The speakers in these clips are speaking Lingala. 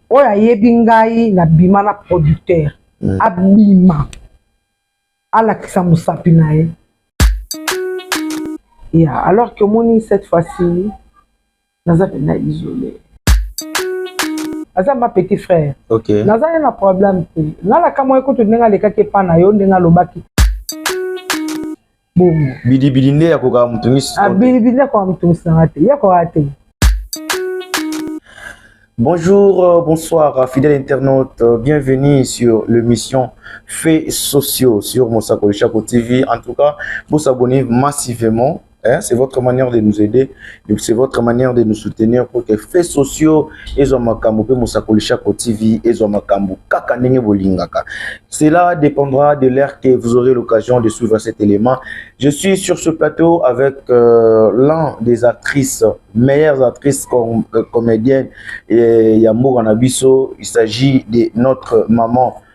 oyo ayebi ngai na bima na producteur mm. abima alakisa mosapi na ye ya alors que omoni cette fois-ci naza mpenza isole aza ma petit frère okay. naza ye na problème te nalaka mwa ekutu ndenge alekaki epa na yo ndenge alobaki bongo bilibili nde ya kokaka moto ngisi ah, bilibili nde akoka moto ngisi nanga te ya kokaa te Bonjour, euh, bonsoir, euh, fidèles internautes. Euh, bienvenue sur l'émission Faits sociaux sur Mosako Chaco TV. En tout cas, vous abonnez massivement. Hein, c'est votre manière de nous aider. C'est votre manière de nous soutenir pour que faits sociaux ezwa makambo pe Mosakoli Shako TV ezwa makambo kaka ndenge bolingaka. Cela dépendra de l'heure que vous aurez l'occasion de suivre cet élément. Je suis sur ce plateau avec euh, l'un des actrices, meilleures actrices com euh, comédiennes et Yambo Ranabiso. Il s'agit de notre maman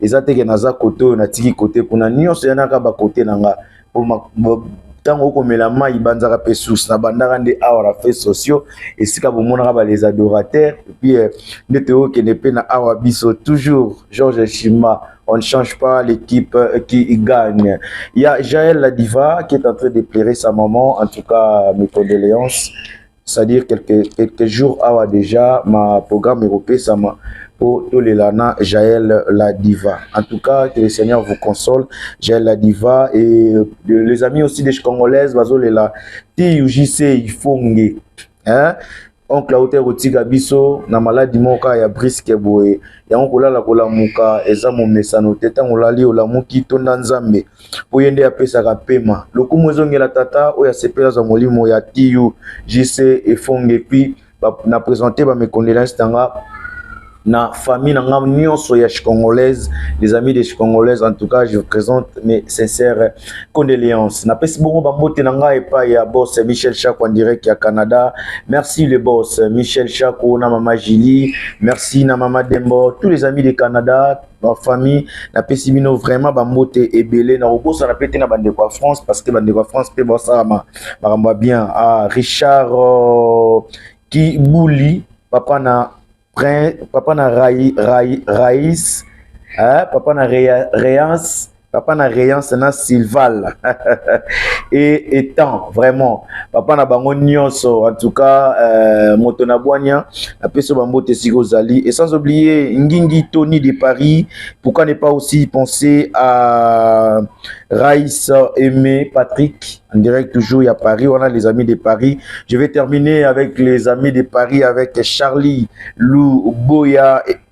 eza te ke naza kote oyo natiki kote kuna nyonso yanaka bakote na nga ntango okomela mai banzaka mpe source na bandaka nde awa na frais sociaux esika bomonaka ba les adorateurs epuis euh, nde toyokende mpe na awa biso toujours georges shima on ne change pas l'équipe euh, qui gagne il y a jael la diva qui est en train de pleurer sa maman en tout cas mes condoléances c'est-à-dire quelques, quelques jours awa déjà ma programme ekopesama mpo tolela na jael la diva en tout cas que le seigneur vous console jael la diva et les amis aussi des congolaises bazolela ti ujc ifonge hein? oncle auta ekotika biso na maladi moko kaka ya briske boye yango kolala kolamuka eza momesano te ntango olali olamuki tonda nzambe mpo ye nde apesaka mpema. Lokumu ezongela Tata oyo asepeli azwa molimo ya TU, JC, Efonge, puis na presenter ba mes condoleances na nga na famille na nga nyonso ya chicongolaise les amis de chicongolaise en tout cas je vous présente mes sincères condoléances napesi bongo bambote na ngai epai ya boss michel chako en direct ya canada merci le boss michel chako na mama julie merci na mama dembo tous les amis de canada ba famille napesi bino vraiment bambote ebele nakobosana mpe te na bandeko ya france parce que bandeko ya france mpe basalama makambo ya bien ah, richard euh, kibuli papa na papa na rais eh, papa na reance papa na reyance na silval e etant vraiment papa na bango nyonso en tout cas euh, moto na bwania napesi yo bambote esika ozali et sans oublier ngingi tony de paris pourquoi ne pas aussi penser à rais aimé patrick en direct toujours ya paris wana les amis de paris je vais terminer avec les amis de paris avec charlie lou boya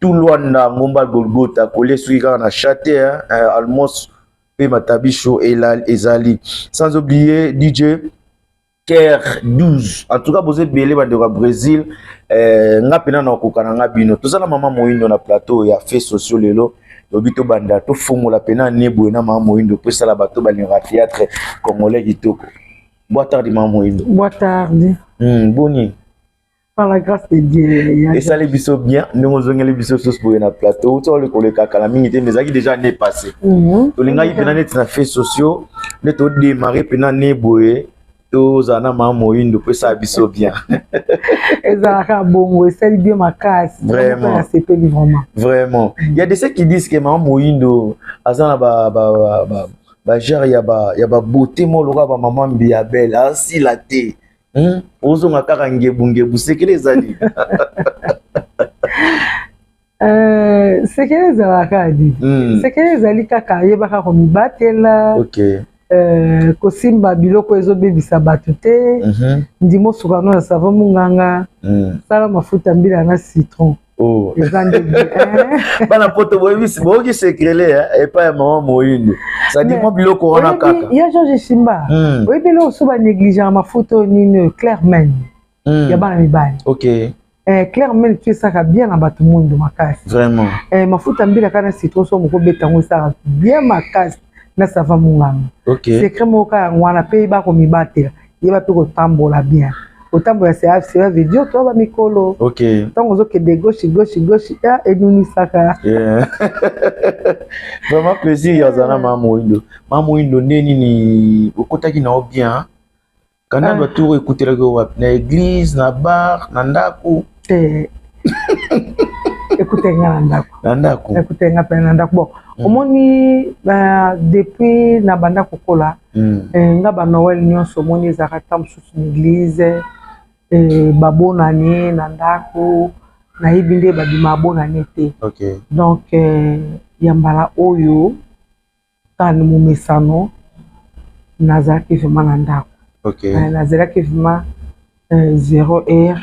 tout Luanda ngomba Golgotha kolie soki kaka na chate hein, eh, almost pe matabisho ezali sans oublier DJ Ker 12 en tout cas boze belé bande au Brésil euh, nga pena na kokana nga bino toza na maman moindo na plateau ya fait sociaux lelo lobi tobanda tofongola mpena nebwe na mama moyindo mpo esala bato balingaka théâtre congolais kitoko boa tardi mama moyindo boa tardi hmm, boni Par la grâce de Dieu. Esali biso bien, ndenge ozongeli biso sosi boye na plateau. Uta ole koleka kala mingi te, mais ezalaki déjà année passée. Mhm. Tolingaki mpena neti na fait sociaux, nde todemare mpena ne boye tozala na mama moyindo mpo esala biso bien. ezalaka bongo, esali bien makasi. Vraiment. Nasepeli vraiment. Vraiment. Il y a de ceux qui disent que mama moyindo aza na ba, ba, ba, ba, ba genre ya ba, ya ba beauté moko lokola ba mama mbiya belle, asila te. hmm? ozonga kaka ngebu ngebu sekele ezali euh, sekele ezalaka di hmm. sekele ezali kaka ayebaka komibatela okay. Euh, kosimba biloko ezobebisa bato te mhm. ndima osukano ya savo monganga mm. sala mafuta mbila na citron Oh. bana poto boyebisi boyoki sekrele eh, epai ya mama moyindo sadi mwa biloko wana kaka ya george simba hmm. oyebi eloko so banéglige ya mafuta oyo nini oyo claire men hmm. ya bana mibali ok eh, claire men tu esaka bien na bato moyindo makasi vraiment eh, mafuta mbila kaka na citron so moko beta yango esaka bien makasi na sava monganga okay. secret moko kaka yango wana mpe bakomibatela yeba mpe kotambola bien kotambola cela veut dire to ba mikolo okay. ntango ozokende gauche gauche gauche ya ah, enunisaka yeah. vraiment plaisir ya ozala na mama moindo mama moindo nde nini okotaki na yo bien ah. kanadwa ah. tour ekutelaki yo wapi na église na bar na ndako te ekutaki nga na ndako na ndako ekutaki nga mpe na ndako bon mm. omoni depuis na banda kokola Mm. Eh, nga ba Noël nyonso omoni ezalaka ta mosusu na eglise eh, babonani na ndako nayebi nde babima abonani te okay. donc eh, ya mbala oyo kani momesano nazalaki vraimen na ndako okay. eh, nazalaki vraimen eh, zero heure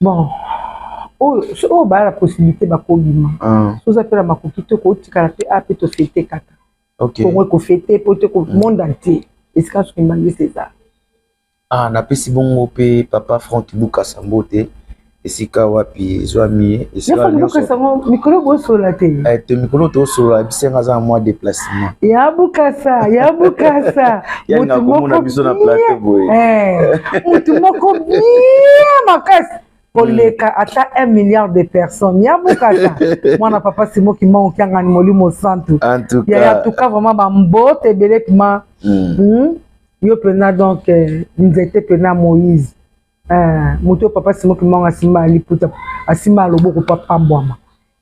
bon oyo so oyo baa na possibilité bakobima ah. soza mpe na makoki te kotikala mpe a mpe tofete kaka kongo ekofete mpo te mm. monde entier esika soki mbangisi eza ah, napesi bongo mpe papa frank bukasa mbote esika wapi ezwami ye esika nyonso mikolo bosolola te eh, te mikolo tosolola bisenga aza mwa deplace ya bukasa ya bukasa motu moko bien eh, makasi koleka hmm. ata 1 milliard de personnes ya bukata mwana papa simo kimbangu kiangani molimo santu yaya tuka vraiment bambote ebele pima hmm. hmm? yo mpena donc eh, nzete mpena moïse eh, moto oyo papa simo kimbangu asimba aliputa asimba aloboko papambwama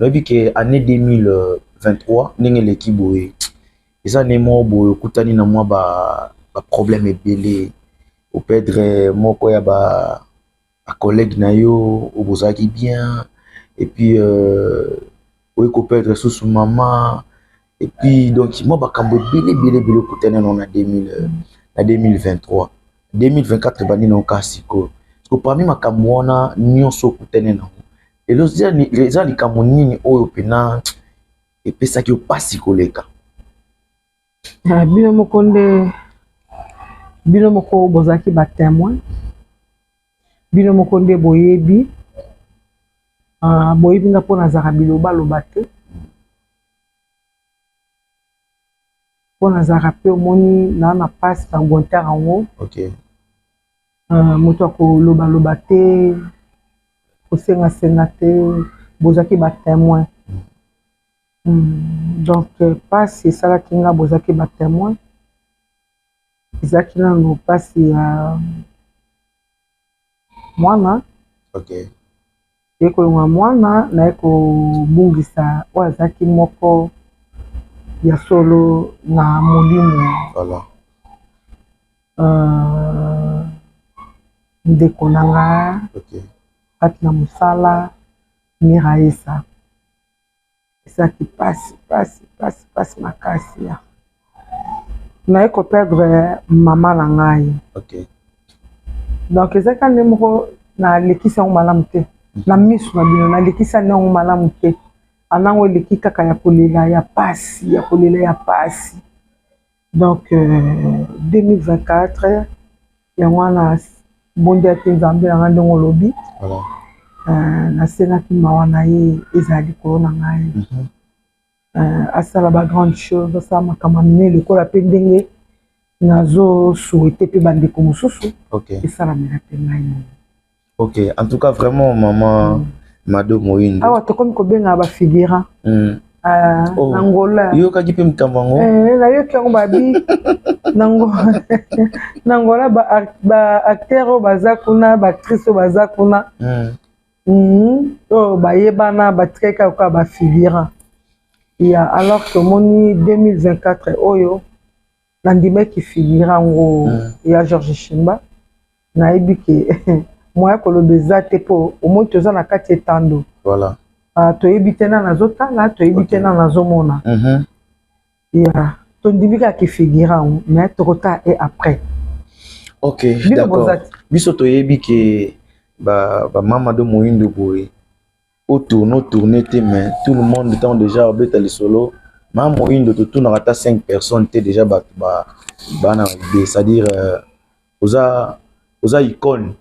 Oyebi ke annee 2023 ndenge eleki boye eza annee moko boye okutani na mwa ba, ba problème ebele o perdre moko ya ba, ba collègue na yo oyo bozalaki bien et puis euh, oye ko perdre susu mama Et puis, donc, moi, bakambo ebele, ebele, ebele okutana na 2000, euh, na 2023. 2024 ebandi na oka sikoyo. Parce que parmi makambo wana nyonso okutane na yango. Lelo eza likambo nini oyo pena epesaki yo mpasi koleka? Ah, bino moko nde bino moko bozalaki ba témoin bino moko nde boyebi ah, boyebi nga mpo nazalaka bilobaloba te mpo nazalaka mpe omoni naa na mpasi na guetare yango okay. uh, moto ya kolobaloba te kosengasenga te bozalaki batemoin mm. mm. donc mpasi euh, esalaki nga bozalaki batemoin ezalaki nano mpasi ya uh, mwana okay. naye kolongola mwana naye kobungisa oyo azalaki moko ya solo na molimo voilà. uh, ndeko na nga okay. kati na mosala miraesa ezalaki pasi pasi pasi pasi makasi ya naye ko perdre mama na ngai okay. donc ezalaki ande moko nalekisi yango malamu te mhm. na miso na bino nalekisi ande yango malamu te anango eleki kaka ya kolela ya pasi ya kolela ya pasi Donc 2024 yango wana bondela te nzambe na ngai ndenge olobi nasengaki mawa na ye ezala likolo na ngai mhm. euh, asala bagrande chose asala makambo minene lokola mpe ndenge nazosouete mpe bandeko mosusu esalamela mpe ngai ok en tout cas vraiment maman mm. mado moyindo awa tokomi kobengaka bafigurant mm. Ah, oh. na ngola yokaki mpe makambo yango eh, nayoki yango babi na ngola baacteur oyo baza kuna baactrice oyo baza kuna mm. Mm-hmm. oyo bayebana batikaki kaka bafigurant ya alors tomoni 2024 oyo nandimaki figure yango ya george shimba nayebi ke moya koloba eza te mpo omoi toza na kati etando voilà. uh, toyebi te na nazotala toyebi okay. te na nazomona mm -hmm. yeah. tondimi kaka kifigure yango mais tokota e après ok d'accord biso toyebi ke bamama ba do moindo boye o tourne o tourne te mais tout le monde ntango deja obeta lisolo ma moindo totunaka ata 5 personnes te deja bato bana ide c'est-à-dire euh, oza oza icone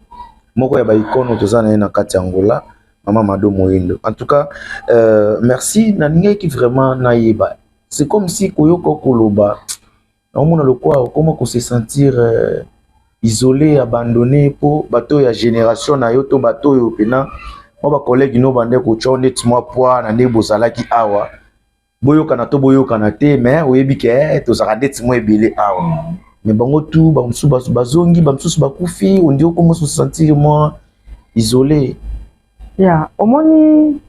moko ya baicone oyo toza na ye na kati ya angola mama mado moindo en tout cas euh, merci nalingaki vraiment nayeba c'est comme si koyoka koloba naomona lokola okoma ko se sentir euh, isole abandonne mpo bato ya génération na yo to bato oyo mpena mwa bacollègue no bande kotya neti mwa pwa na ndenge bozalaki awa boyokana to boyokana te me oyebi ke eh, tozalaka ndeti mwa ebele awa mm. me bango tu bamosusu bazongi bamosusu bakufi ondi okomoso sentir mwa isole ya omoni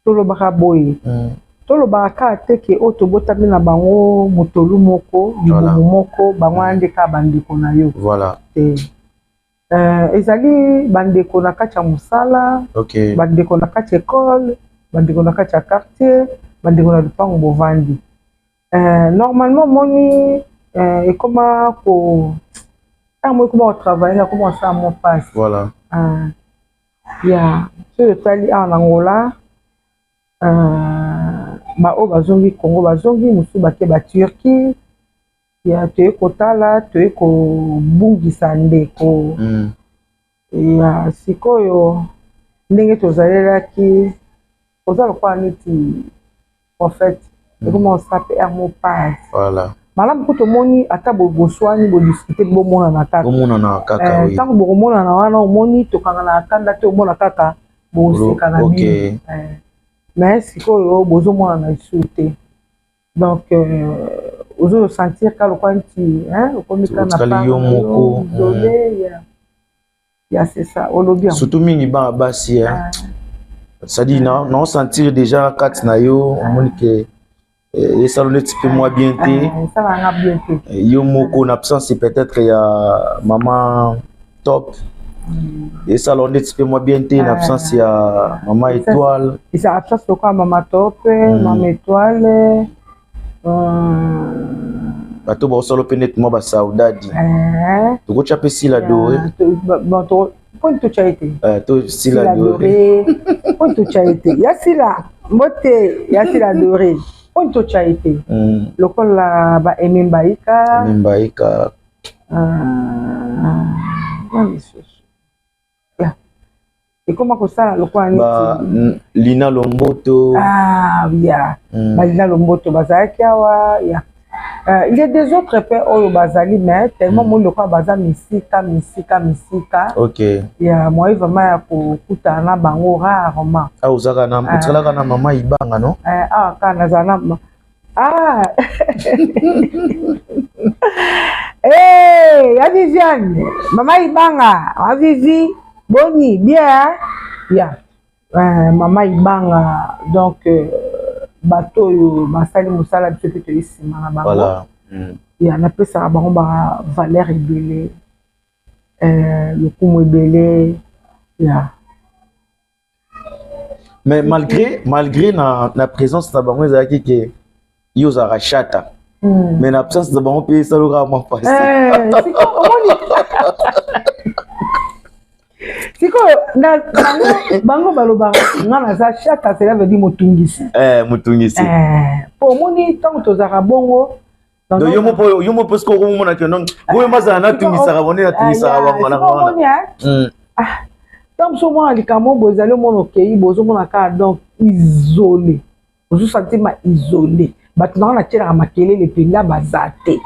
tolobaka boye mm. tolobaka kaka te ke oyo tobotami na bango motolu moko libumu voilà. moko bango wana mm. nde kaka bandeko na yo voilà. te euh, ezali bandeko na kati ya mosala okay. bandeko na kati ya ekole bandeko na kati ya quartier bandeko na lupango bovandi euh, normalement moni euh, ekoma ko ntango ekoma kotravaille akoma kosala mo pasi voilà. euh, Ya soki otali awa na Angola ba oyo bazongi Congo bazongi mosusu bake ba Turquie ya toye kotala toye kobungisa ndeko mm. ya sikoyo ndenge tozalelaki oza lokola neti prophète hmm. ekoma osa pr mo page voilà malamu kutu omoni ata boswani bodiscute bomonana kakaomonana kaka eh, ntango bokomonana wana omoni tokanganaka kanda te omona kaka bosekana bino eh. mais sikoyo bozomonana lisusu te donc euh, ozo sentir ka lokola nti okomi ka na yo moko hmm. ya c'est ça olobi yango surtout mingi bana basi eh. ah. c'est-à-dire na na sentir déjà kati na yo omoni ke eh, esala neti mpe mwa bien te ah, eh, yo moko na absence peut-être ya mama top mm. esala neti mpe mwa bien te na absence ya mama étoile eza absence lokola mama top mama mm. étoile bato baosala mpe neti mwa basaudadi eh. tokotya mpe sila dore poni totya ete eh, sila dore poni totya ete ya sila mbote ya sila dore poni totya ete hmm. lokola ba aime mbaika mbaika ah, ah, ah, ekoma kosala lokola neti lina lomboto ah, ya mm. balina lomboto bazalaki awa ya Uh, il y a des autres pe oyo bazali mais tellement moni lokola baza misika misika misika okay. ya moye vraiment ya kokutana na bango rarement awa ah, ozalaka na mama ibanga no awa kaka nazala na Ah hey, ya Viviane, mama Ibanga, ma Vivi, boni, bien hein? Ya, euh, mama Ibanga, donc euh, bato oyo basali mosala biso mpe toyi nsima na bango. Voilà. Mm. Ya napesaka bango ba valeur ebele, euh, lokumu ebele, ya. mais malgré malgré na, na présence na bango ezalaki ke yo ozalaka shata mm. mais na absence na bango mpe esalokaka mwa mpasi sikoyo bango balobaka nga naza shata cela veut dire motungisi eh, motungisi eh, po omoni ntango tozalaka bongo donc yo moko yo moko soki okomona ke non boye mazala natungisaka bone natungisaka bango na wana ntango mosusu omona likambo boye ezali omona okei boye ozomona kaka donc isole ozosantima isole bato na nga natyelaka makelele mpenza baza te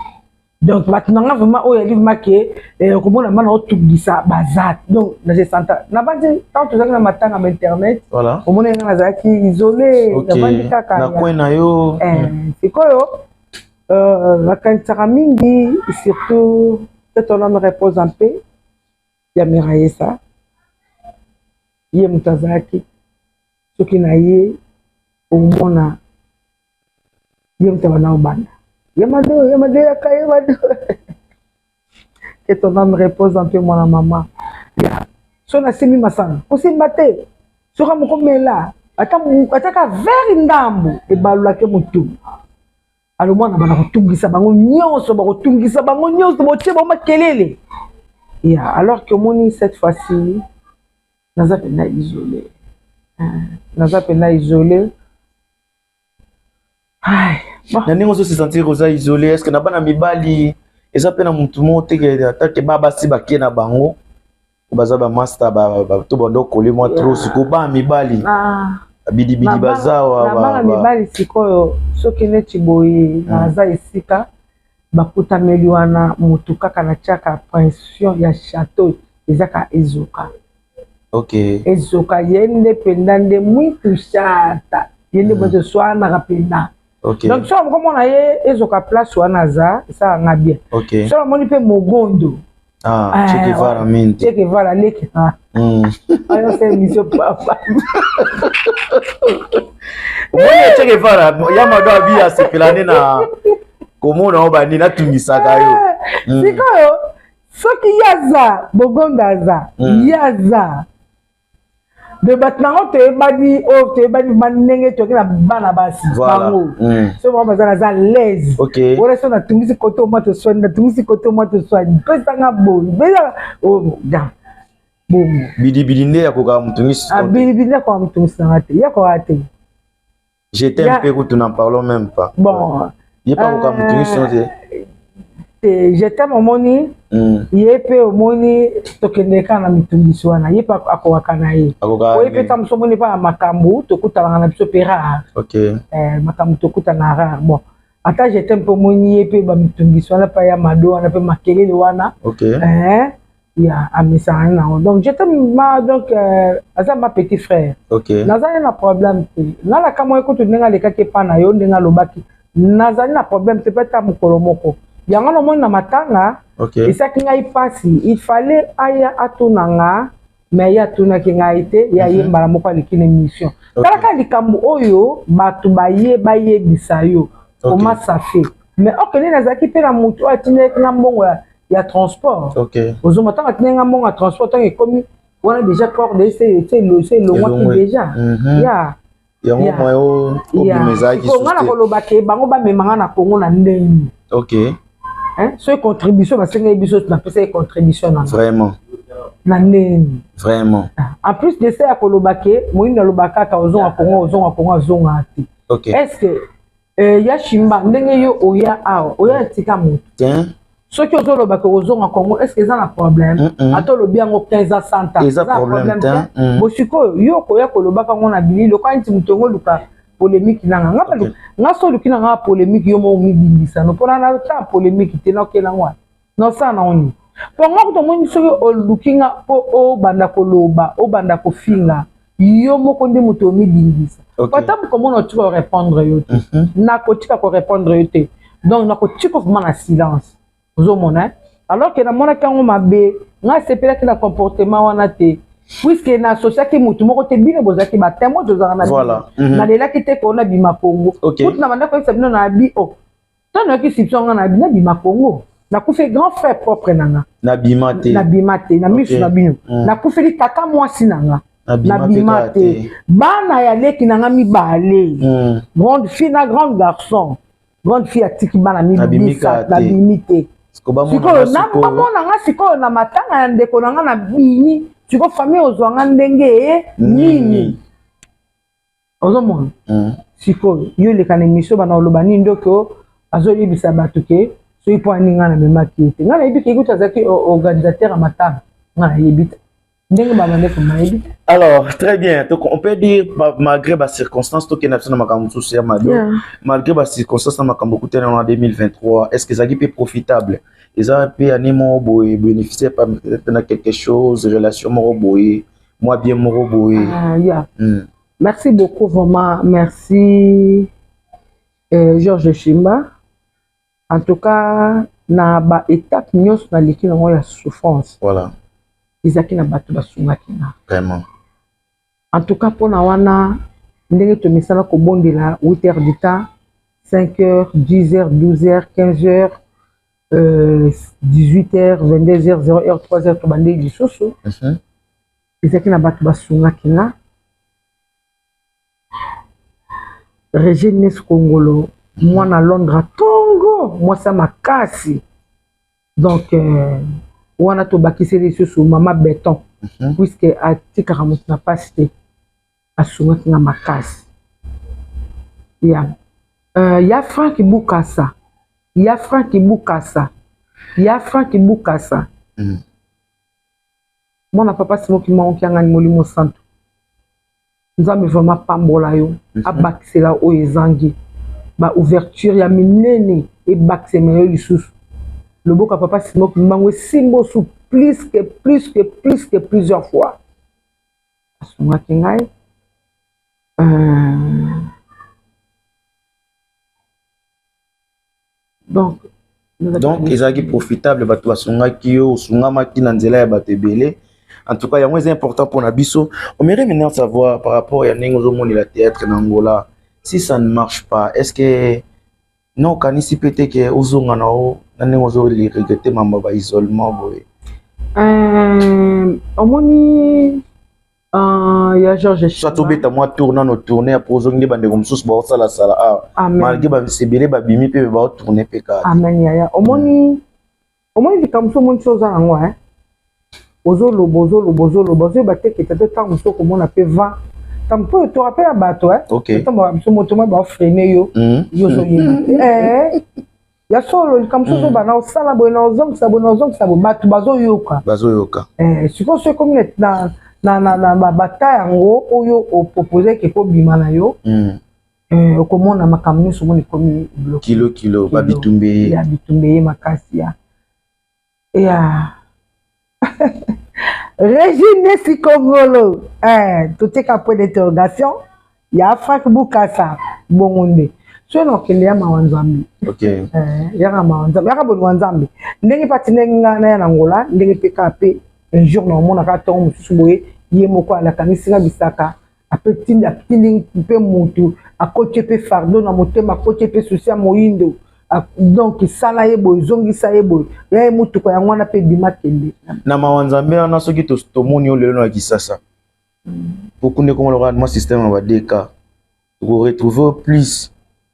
donc bato na nga vraiment oyo yali vraimen ke eh, okomona bana otungisa baza donc nasesanta nabandi ntango tozalaki na matanga ma internet omona nga nazalaki isole nabandi kaka na coin na yo eh, sikoyo nakanisaka mingi surtout que ton ame repose en paix ya Miraesa ye moto azalaki soki na ye omona ye moto abanda kobanda ye mado ye mado yaka ye mado Que ton ame repose en paix mwana mama. Ya soki nasimbi masanga kosimba te soki moko mela ata ata ka vere ndambo ebalolake motu alo mwana bana kotungisa bango nyonso bakotungisa bango nyonso botie bango makelele ya alors que omoni cette fois-ci naza mpenza isole naza mpenza isole na ndenge ozo se sentir oza isolé est ce que na bana mibali eza mpe na motu moko te ke ata ke ba basi bake na bango baza bamasta to bando okoli mwa tro siko bana mibali ah. bidibidi baza bana mibali sikoyo soki neti boye hmm. naza esika bakutameli wana motu kaka na tiaka pression ya chateau ezaka ezoka okay. ezoka ye nde mpenza nde mwitu shata ye nde mwitu hmm. swanaka mpenza okay. donc soki okomona ye ezoka place wana aza esala nga bien okay. soki omoni mpe mogondo Ah, ah, Che Guevara mingi. Che Guevara leki. Mm. Ayo se miso papa. Mwana Che Guevara ya mado abi asepelane na komona oyo bani natungisaka yo. Hmm. Sikoyo soki ye aza bogonda aza mm. ye aza de bato nango toyebani oyo oh, toyebani ma ndenge toki na bana basi bango mm. so bango baza naza laise wana so natungisi koto mwa toswani natungisi koto mwa toswani pesanga boyi pesa oh, bongo bidibidi nde yakokaka motungisi ah, bidibidi yakokaka motungisanga te yakokaka te Je t'aime yeah. pe kutu n'en parlons même pas. Bon. Ye pa koka mutu nyonso te. Te je t'aime omoni mm. ye pe omoni tokende kaka na mitungisi wana ye pe akokaka na ye oye pe ta mosu omoni epa na makambo tokutanaka na biso pe rare okay. eh, makambo tokutana rare bon ata je t'aime pe omoni ye pe bamitungisi wana pa ya mado wana pe makelele wana okay. eh, ya amesana nango donc je te ma donc euh, aza ma petit frère okay. nazali na problème te nga na kamwa ekutu ndenge alekaki epa na yo ndenge alobaki nazali na problème te mpe ata mokolo moko yango namoni na matanga okay. esaki ngai mpasi il fallait aya atuna nga mais ye atunaki ngai te ye aye mhm. mbala moko aleki na émission talaka likambo oyo bato baye bayebisa yo omasafe mais okende nazalaki mpe na motu oyo atindaki nga mbongo ya ya transport okay. ozonga ntango atindaki nga mbongo ya transport ntango ekomi wana déjà corde ese elongwaki déjà mhm. ya yango mwa yo obima ezalaki nga na koloba ke bango bamema nga na kongo na ndenge ok soki contribution basengeli biso napesaki contribution na vraiment na ndenge vraiment ah, en plus de ça ya koloba ke moyini aloba kaka ozonga kongo ozonga kongo azonga te est ce que Eh, ya shimba ndenge yo oya awa oya tika moto soki ozoloba ke kozonga congo estce eza na problème mm -mm. ata olobi yango 15 ans santa eza na problème te mm. bosikoyo yo okoya kolobaka yango na bili lokola neti moto yango oluka polémique nanga nga okay. nga so oluki na nga polémique yo moko omibindisa no mpona na ta polémique te nakela yango wana Nosala nango nini? Mpo nga kutu omoni soki oluki nga mpo obanda koloba, obanda kofinga, yo moko nde moto omidindisa. Okay. Ata mokomona otika korepondre yo te. Mhm. Nakotika korepondre yo te. Donc nakotika ovuma na silence. Ozomona, eh? Alors que namonaki yango mabe, nga sepelaki na comportement wana te. puiske na asosiaki motu moko te bino bozalaki batemo tozalaka na bino mhm. nalelaki te koona bima kongo kutu na bandako oyebisa bino na abi o oh, Tant na ki sipso nga na bina bima Congo. Na kufe grand frère propre na nga. Na bima te. Na bima te. Na misu na bino. Mm. Na kufe li tata mwasi na nga. Na bima te. Bana ya leki na nga mi bale. Mm. Grande fille na grande garçon. Grande fille atiki bana mi bisa. Na bimi te. Sikoyo na bamona nga sikoyo na matanga ya ndeko na nga na bini. Sikoyo famille ozwa nga ndenge nini. ozomona mm. sikoyo yo oleka na emission bana oloba nini ndoki azoyebisa bato ke soki mpo ani ngai namemaki ye te ngai nayebi ke kutu azalaki organisateur ya matanga ngai nayebi te ndenge babandeko nayebi te alors très bien donc on peut dire malgré bacirconstance tokenda biso na makambo mosusu ya mabe malgré bacirconstance na makambo okutani yango na 2023 est ce que ezalaki mpe profitable eza mpe ane moko boye bénéficier na quelque chose relation moko boye mwa bien moko boye ah, yeah. mm. merci beaucoup vraiment merci euh, georges shimba en tout cas na baétape nyonso naleki nango ya souffrance voilà. ezalaki na bato basungaki nga vraiment en tout cas mpona wana ndenge tomesana kobondela 8 heures du temps 5 heures 10 heures 12 heures 15 heures euh, 18 heures 22 heures 0 heure 3 heures tobandeli lisusu mhm. ezalaki na bato basungaki nga regines kongolo mhm. mwana londres tongo mwasi ya makasi donc euh, wana tobakiseli lisusu mama beton mhm. puiske atikaka moto na mpasi te asungaki nga makasi ya uh, ya frank bukasa ya frank bukasa ya frank bukasa mm. mwana papa simoki maoki angani molimo santu nzambe vraimen apambola yo mhm. abakisela oyo ezangi ba ouverture ya minene ebakisema yo lisusu loboko ya papa simoki mbango esimba osu plus que plus que plus que plusieurs fois asungaki ngai euh, donc donc ezalaki profitable bato basungaki yo osungamaki na nzela ya bato ebele en tout cas yango eza important mpona biso omere maintenant savoir par rapport ya ndenge ozomonela théâtre na angola si ça ne marche pas est ce que Non, okanisi pe te ke ozonga na o na ndenge ozo regrete mambo ya ba isolement boye. Euh, omoni Uh, ya george soit tobeta mwa tour nano tourne apres ozongi nde bandeko mosusu baosalasala awa malgre bamise ebele babimi mpe baotourne mpe kaka amen yaya omoni mm. omoni likambo so omonisi oza nango e eh? ozoloba ozoloba ozoloba ozoyeba te kete to ntango mosusu okomona mpe vent ntango mpo oyo torape ya bato e eh? ntango biso moto mwa baofrene yo mm. yo ozoyeba te eh? ya solo likambo mosusu mm. ozobana osala boye na ozongisa boye na ozongisa boye bato bazoyoka bazoyoka sikoyo so ekomi na na na na bata yango oyo opropose ekekobima na yo mm. Eh, okomona makambo nyonso omoni ekomi kilo kilo babitumbe ye ya bitumbe ye makasi ya ya regine sikongolo eh, totika point d'interrogation ya frank bukasa bongo nde soki na okende ya mawa nzambe okay. eh, yaka mawa nzambe yaka bolingo nzambe ndenge pati ndenge nga naya na ngola ndenge mpe kaka mpe un jour na omonaka ntongo mosusu boye ye moko alakangisi nga bisaka ape tindi atindi mpe mutu akoti ye mpe fardo na motema akoti ye mpe susi ya moyindo donc sala ye boye zongisa ye boye ya ye motuka yango wana mpe bima kende na mawa nzambe wana soki tomoni yo lelo na kisasa okunda ekongo lokola mwa systeme ya badeka okoretrouve plus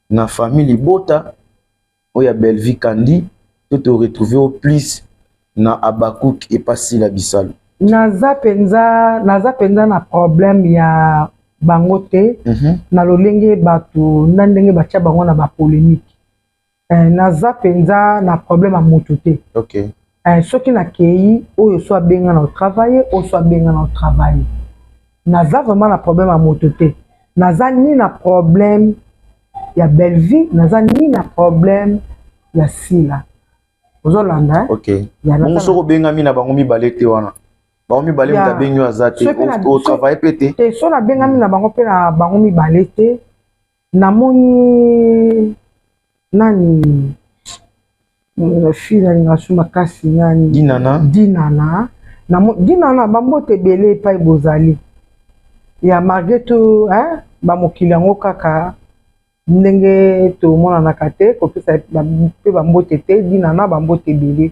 na famille libota oyo ya Bellevue Candy to to retrouver au plus na Habacuc et pas Sila Bisalu. Naza penza naza penza na problème ya bango te mm -hmm. na lolenge bato na ndenge batya bango na bapolémique eh, naza mpenza na problème ya motu te okay. Eh, soki nakeyi oyo so abenga na travaille oyo so abenga na travaille naza vraiment na problème ya moto te naza ni na problème ya bellevie naza ni na problème ya sila ozolanda eh? okay. bongo soki obengami na bango mibale te wana bango mibale moto abengi oyo aza te otravaille mpe te te so nabengami na bango mpe na bango mibale te namoni nani fille nalinga su makasi nani dinana dinana namo dinana bambote ebele epai bozali ya marge to eh, bamokili yango kaka ndenge tomonanaka te kopesa mpe bambote te dinana bambote ebele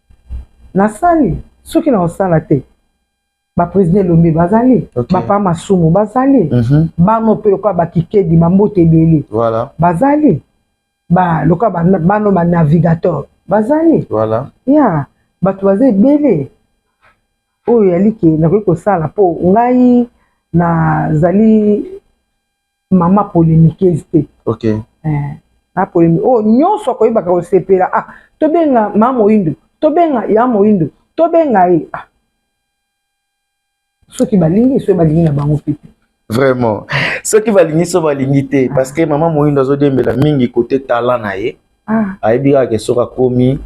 nasali soki naosala te baprésident elombe bazali okay. bapa masumu bazali mm -hmm. bano mpe lokola bakikedi bambote ebele voilà. bazali ba, lokola ba, bano banavigateur bazali voilà. ya bato baza ebele oyo yalike nakoki kosala mpo ngai nazali mama polemiqueuse te ok eh, na polemique oyo oh, nyonso akoyebaka kosepela ah tobenga mama moyindo tobenga ya moyindo tobenga ye ah soki balingi soki balingi na bango mpe te vraiment soki balingi so balingi te ah. parce que mama moyindo azodiembela mingi kote tala na ye ah. ayebi kaka ke soki akomi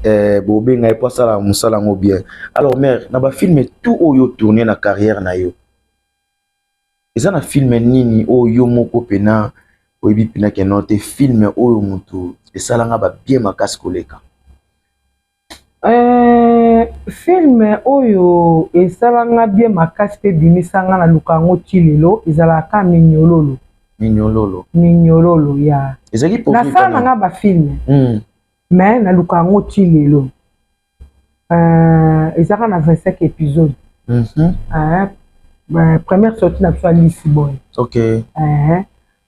eh, bobenga ye mpo asalaka mosala yango bien alors mare na bafilme tout oyo tourne na carrière na yo eza na filme nini oyo yo moko mpena oyebi mpena keno te filme oyo motu esalanga babie makasi koleka eh, filme oyo esalanga bie makasi mpe ebimisanga na luka yango ti lelo ezalaka minyololo minyololo minyololo ya ezalaki nasala nanga bafilme mm. me naluka yango ti lelo euh, ezaka na 25 episode mm -hmm. euh, euh, première sortie na biso ya lisibon okay. euh,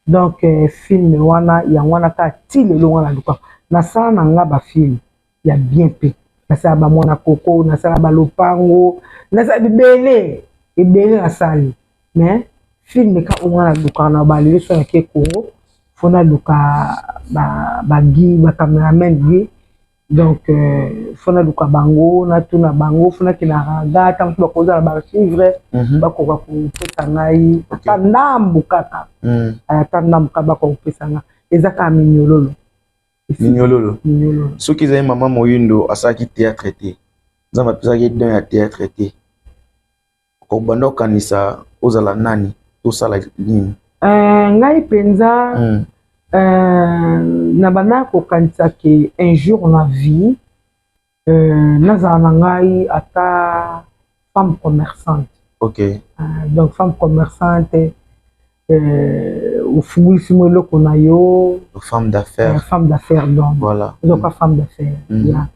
donc euh, film wana yango wana kaka ti lelo wana luka nasala na nga bafilme ya bien mpe nasala bamwana koko nasala balopango nasala bibele ebele nasali mais filme ka onga na luka na balele so yake kongo fo na luka bagi bacameraman ye donc euh, fo naluka bango natuna bango fo nakende na raga ntango mosusu bakoza na baarchive mhm. bakoka kopesa ngai ata ndambu kaka mhm. ata ndambu kaka bakoka kopesa ngai eza kaka minyololo minyololo soki ezali mama moyindo asalaki théâtre te nzambe apesaki don ya théâtre te Obanda okanisa ozala nani tosala nini? Uh, ngai mpenza mm. uh, nabanda kokanisa ke un jour na vie uh, nazala na ngai ata femme commerçante okay. uh, donc femme commerçante euh, ofungolisi mwa eloko na yo femme d'affaire euh, femme d'affaire donc voilà ozoka mm. femme d'affaire mm. yeah.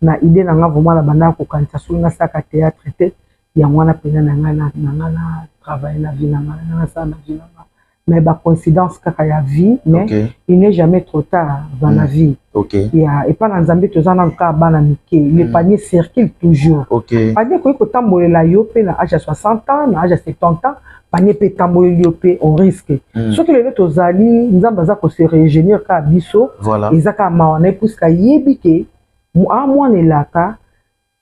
na idée na nga vraiment nabandaka kokanisa soki nasalaka théâtre te yango wana mpenza na ngai na ngai na travaille na vie na ngai na nasala na vie na ngai mais bacoïncidence kaka ya vie mais okay. il n'est jamais trop tard dans mm. la vie okay. ya epai na nzambe toza nanu kaka bana mike mm. le panier circule toujours okay. panier ekoki kotambolela yo mpe na age ya 60 ans na age ya 70 ans panie mpe etamboleli yo mpe on risque mm. soki lelo tozali nzambe aza kose regenir kaka biso voilà. eza kaka mawa na ye puiske ayebi ke a mwana elaka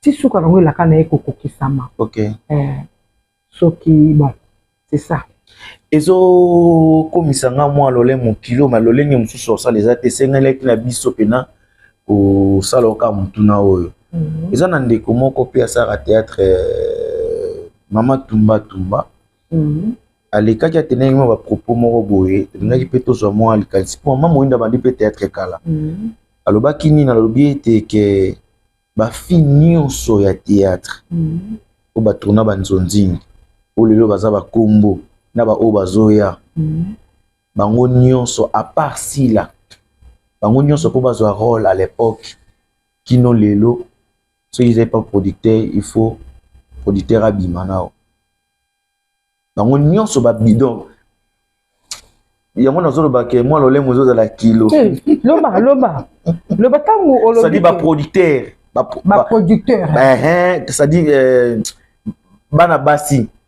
ti suka nango elaka na ye kokokisama okay. eh, soki bon c'est ça ezokomisa nga mwa lolemo kilo ma lolenge mosusu osala eza te esengelaki na biso mpena kosala oka motuna oyo mhm. eza na ndeko moko mpe asalaka théâtre euh, mama tumba tumba mhm. alekaki atenaki mwa bapropos moko boye tolingaki mpe tozwa mwa likanisi mpo mama moyinda abandi mpe théâtre kala mhm. alobaki nini alobi ete ke bafi nyonso ya théâtre oyo batourna banzonzingi oyo lelo baza bakombo na baoyo bazoya bango nyonso à part sila bango nyonso mpo bazwa role à l'époque kino lelo soki ezali pa producteur il faut producteur abima nao bango nyonso babidon yango nazoloba ke mwa lolemo ezozala kilo eh, loba loba loba ntango olobisadi baproducteur baproducteur c'est-à-dire bana basi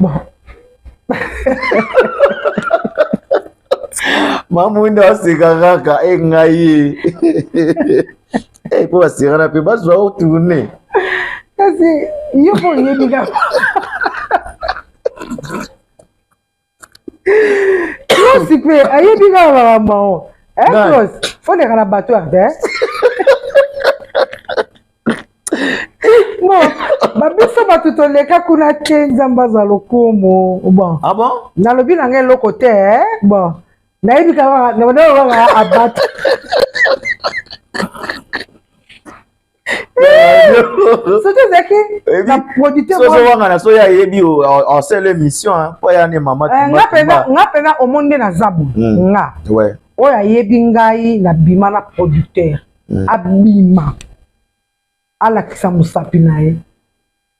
bon mamwinda aseka kaka e ngai ye mpo basekana mpe bazwa o tourne kasi yo mpo oyebi kaka yosi mpe ayebi kaka makambo yango fondeka na bato arte non babiso bato toleka kuna te nzambe aza lokumu bon ah bon nalobi na ngai eloko te eh? bon nayebi kaka abata soki ezalaki na producteurwanga na soki ayebi osala émission mpo ya ne mama eh, nga mpenza omoni nde naza bo hmm. nga oyo ayebi ngai na bima na producteur mm. abima alakisa mosapi na ye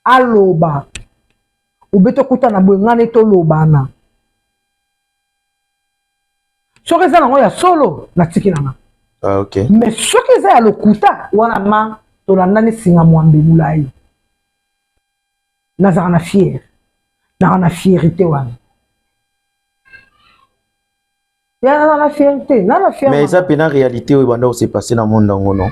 aloba obe tokutana boye ngai ne tolobana soki eza nango ya solo natiki nanga ah, okay. mais soki eza ya lokuta wana ma tolandani singa mwambe molai nazalaka na fiere nazalaka na fierité wana ya na na fier te na na fier mais eza pe na réalité oyo banda se passer na monde yango non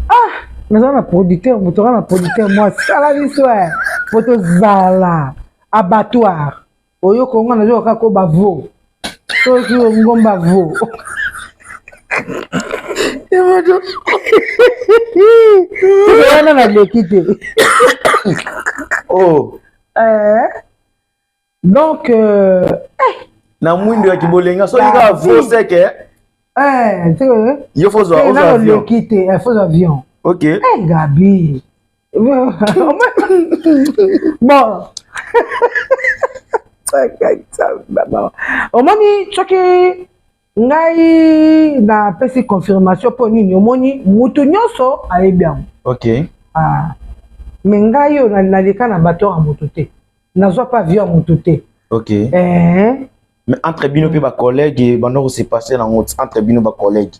ah naza na producteur moto aza na producteur mwa sala biso e po tozala abattoir oyoka onga nazoka kaka ko bavo soki ongomba vo wana naleki te oh. eh. donc euh, eh. na mwindo ya kibolenga soki kaka faux sec eh, eh tu yo faut zo ozo avion le quitter eh, faut avion OK eh hey, Gabi bon omoni soki ngai napesi confirmation mpo nini omoni mutu nyonso ayebi yango ok ah. me ngai oyo naleka na bato ya moto te nazwa mpe avio ya moto te ok eh. mais entre bino mpe bacollègue banda kose passe nango entre bino bacollègue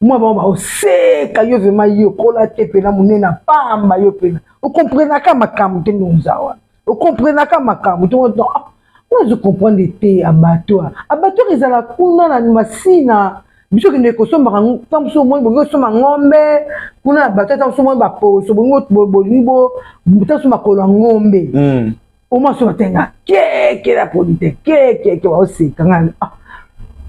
mwa bango baoseka yo vrema yokola te mpena monene apamba yo mpena okomprenaka makambo te ndonza wana okomprenaka makambo te wana ah, ozo comprendre te abattoir abattoir ezala kuna na masina biso kende kosombaka ntango mosusu omoni bolingi osomba ngombe kuna na bato ntango mosusu omoni baposo bolingi bolingi ntango mosusu makolo ya ngombe hmm. omwasi oyo atenga keke na polite kekeke waoseka ngai ah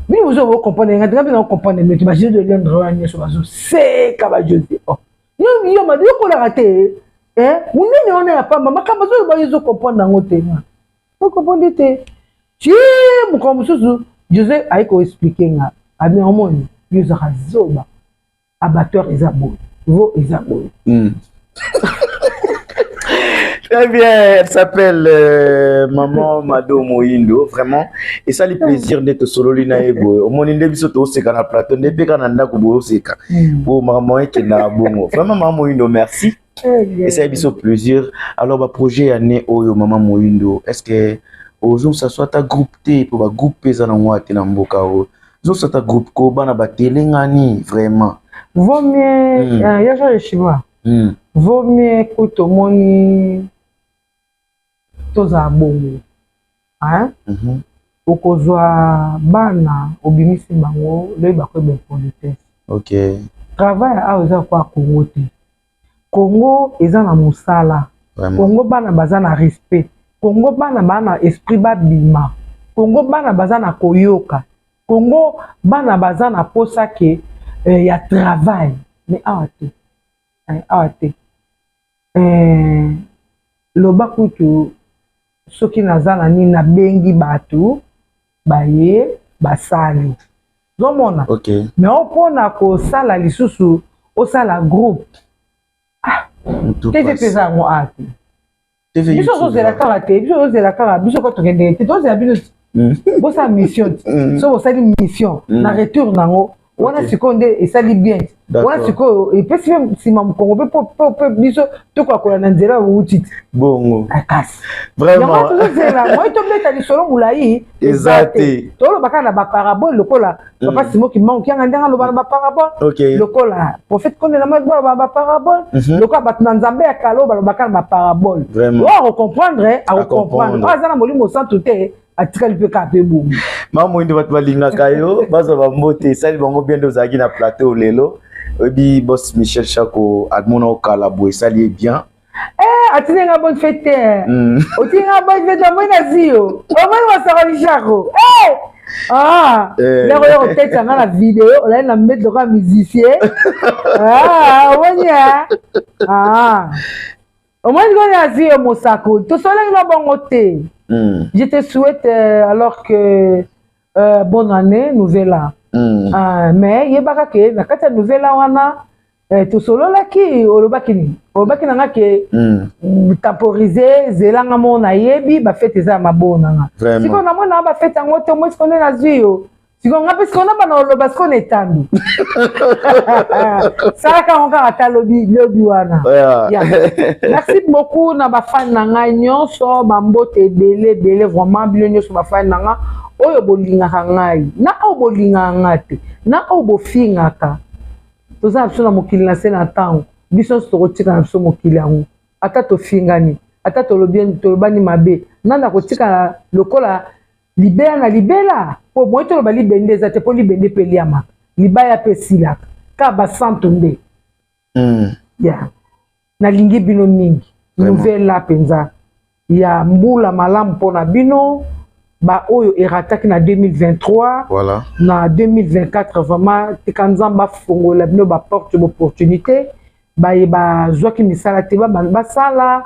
bino bozo bo comprendre ngai tenga mpe na comprendre mete bajeu de londre wana nyonso bazoseka bajose o oh. yo yo mado yokolaka te eh, monene wana ya pamba makambo azoloba yo ezocomprendre yango te nga ocomprendre te ti mokolo mosusu jose aye koexplike nga abi omoni yo ozaka zoba abattoir eza boye vo eza boye hmm. Très bien, elle s'appelle euh, Maman Mado Moindo, vraiment. Et ça, le plaisir d'être solo lina ego. Au moins, nde biso to seka na plateau, nde peka na ndako bo seka. Hmm. Bo maman eke na bongo. Vraiment Maman Moindo, merci. esali biso plaisir alors baprojet ya ne oyo mama moyindo est ce que ozongisa so ata groupe te mpo bagroupe mpe eza nango ate na mboka oyo zongisa ata groupe ko bana batelengani vraiment vaut mieux mm. uh, ya jean le chinois mm. vaut mieux kutu omoni tozala bongo hein mm -hmm. okozwa bana obimisi bango loyeba koyeba impolitesse okay. travail awa eza kwa kongo te kongo eza na mosala kongo bana baza na respect kongo bana baa na esprit babima kongo bana baza na koyoka kongo bana baza na posa ke eh, ya travail mais awa te eh, awa te Eeh loba kutu soki naza na nini nabengi bato baye basali zomona okay. me opona kosala lisusu osala groupe ah, tete mpeza yango ate biso ozozela kaka te biso ozozela kaka biso ko tokendeke te tozela bino hmm. bosala mission te hmm. so bosali mission hmm. na retour nango wana sikoyo nde esali bien wana sikoyo epesi mpe nsima mokongo mpe mpe biso tokakola na nzela ya bouti te bongo ah, kasi yango tozozela moi tobeta lisolo molai eza te toloba kaka na baparabole lokola mm. papa simo kimbangu kianga ndenge aloba na baparabole lokola prophète kondela mai baloba na baparabole mhm. lokola bato na nzambe ya kala oyo balobaka na baparabole oyo akocomprendre akocomprendre oyo aza na molimo santu te atikali mpe kaka mpe bongo mama moyindo bato balingaka yo bazwa bambote esali bango bien nde ozalaki na plateau lelo oyebi bos michel chako amona okala boye esali ye bien eh, atindi nga bonne fete te eh. mm. otindi nga bonne fete omoi na ziyo omoi wasakoli chako eh! Ah, eh. ndako yo koteta nga na video olai na mbeti lokola musicien ah, omoni omoni omoni ko nazwi yo mosakoli tosolaki na bongo te hmm. je te souhaite euh, alors que euh, bonne année nouvelle an mm. uh, mais yebaka ke na kati ya nouvelle an wana eh, tosololaki olobaki nini olobaki nanga ke mm. temporize zelanga moko nayebi bafete eza ya maboo nanga sikoyo namona bafete yango te omoi sikoyo nde nazwi yo sikoyo nga mpe sikoyo nabana oloba sikoyo na etando salaka yango kaka ata lobi lobi wana merci beaucoup na bafani na ngai nyonso bambote ebele ebele vraiment bino nyonso bafani na ngai oyo bolingaka ngai na oyo bolingaka ngai te na oyo bofingaka toza na biso na mokili na se na ntango biso nyonso tokotika na biso mokili yango ata tofingani ata tolobani mabe nani akotikala lokola libela na libela mpo moye toloba libende eza te mpo libende mpe eliamaka libaya mpe esilaka kaka basanto nde mm. ya nalingi bino mingi nouvela mpenza ya mbula malamu mpo na bino baoyo erataki na 2023 voilà. na 2024 vraiment tika nzambe afongolela bino baporte d'opportunité baye bazwaki misala te basala ba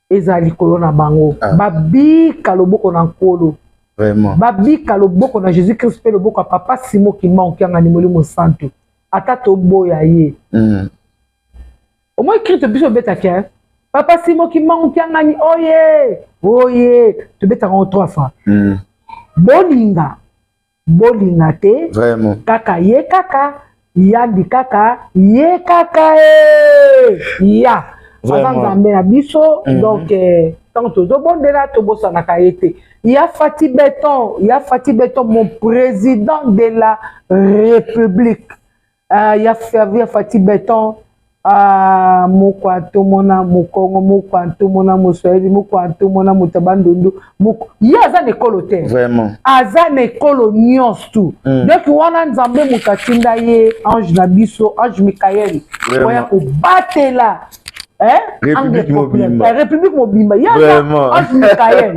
ezala likolo na bango ah. babika loboko na nkolo Vraiment. babika loboko na jésus christ mpe loboko ya papa simo kimba okiangani molimo santu ata toboya ye mm. omoi krito biso obetaki eh? papa simo kimba okiangani oye oye tobetaka yango trois fois mm. bolinga bolinga te vraiment kaka ye kaka yandi kaka ye kaka ee ya aza nzambe na biso mm -hmm. donc eh, ntango tozobondela tobosanaka ye te ya fati beton ya fati beton mon président de la république Ah, ya fervi ya fati beton ah, moko atomona mokongo moko atomona moswahili moko atomona moto ya bandundu moko ye aza na ekolo te vraiment aza na ekolo nyonso tu mm. donc wana nzambe moto atinda ye ange na biso ange mikael oya kobatela république mobimba ye aza ange mikael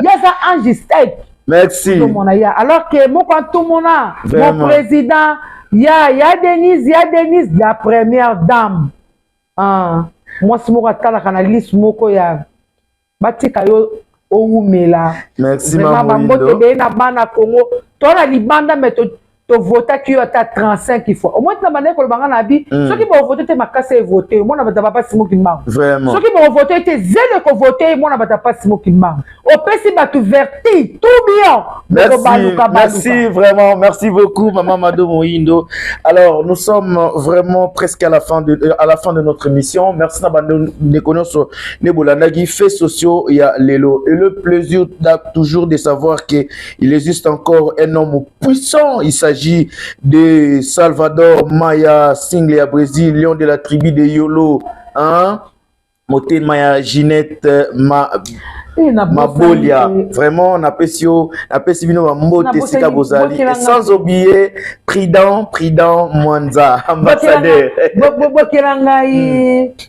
ye aza ange stake Merci. Tomona ya. Alors que moko atomona mon président ya ya Denise ya Denise la première dame. Ah, moi si moko atalaka na liste moko ya batika yo owumela. Merci maman. Vraiment bambote be na bana Congo. Toi na libanda mais tovotaki yo ata 35 fois omoi tina bandaki koloba nga na abi mm. soki bovote te makasi evote mwana bato ya bapasi mokimbango soki bovote te zelo ekovote mwana bato ya pasi mokimbango opesi bato verti tout bien bokobaluka merci vraiment merci beaucoup mama mado moindo alors nous sommes vraiment presque à la fin de, à la fin de notre émission merci na bandeko nyonso nde bolandaki fait sociaux ya lelo et le plaisir toujours de savoir que Il existe encore un homme puissant. Il s'agit de Salvador Maya, single à Brésil, lion de la tribu de Yolo. Hein? Moté Maya Ginette, ma mabolia vraiment napesi yo napesi bino bambote esika bozali sans oublier prudent prudent mwanza ambassadeur bokela ngai hmm.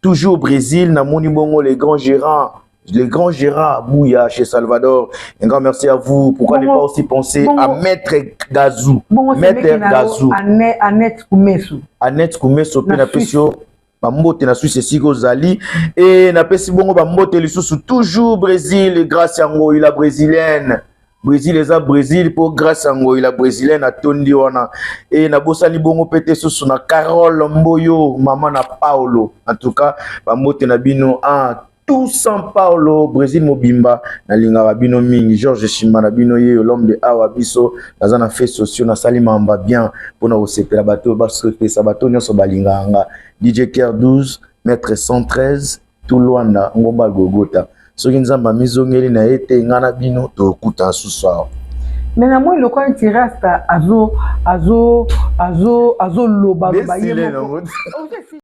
Toujours Brésil, na moni bongo les grands gérants le grand Gérard Bouya chez Salvador. Un grand merci à vous. Pourquoi ne pas aussi penser à Maître Gazou Maître Gazou. Annette Koumesso. Annette Koumesso, puis la pression. bambote na suisse esika ozali e napesi bongo bambote lisusu toujours brésil grâce yango ila brésilienne Brésil eza Brésil mpo grâce ya ngoyi la brésilienne atondi wana e nabosani bongo mpe te susu na Carole Mboyo mama na Paulo en tout cas bambote na bino ah, tout sans Paulo Brésil mobimba nalingaka bino mingi George Shimba na bino yeyo l'homme de awa biso naza na fait sociaux nasali mamba bien mpo na kosepela bato basepesa bato nyonso balingaka nga DJ Ker 12 mètre 113 tu Luanda, ngomba Golgotha. Soki Nzambe amizongeli na ye te, ngai na bino tokuta asusu awa. Mais na moi lokola nti rasta azo azo azo azo loba loba ye moko.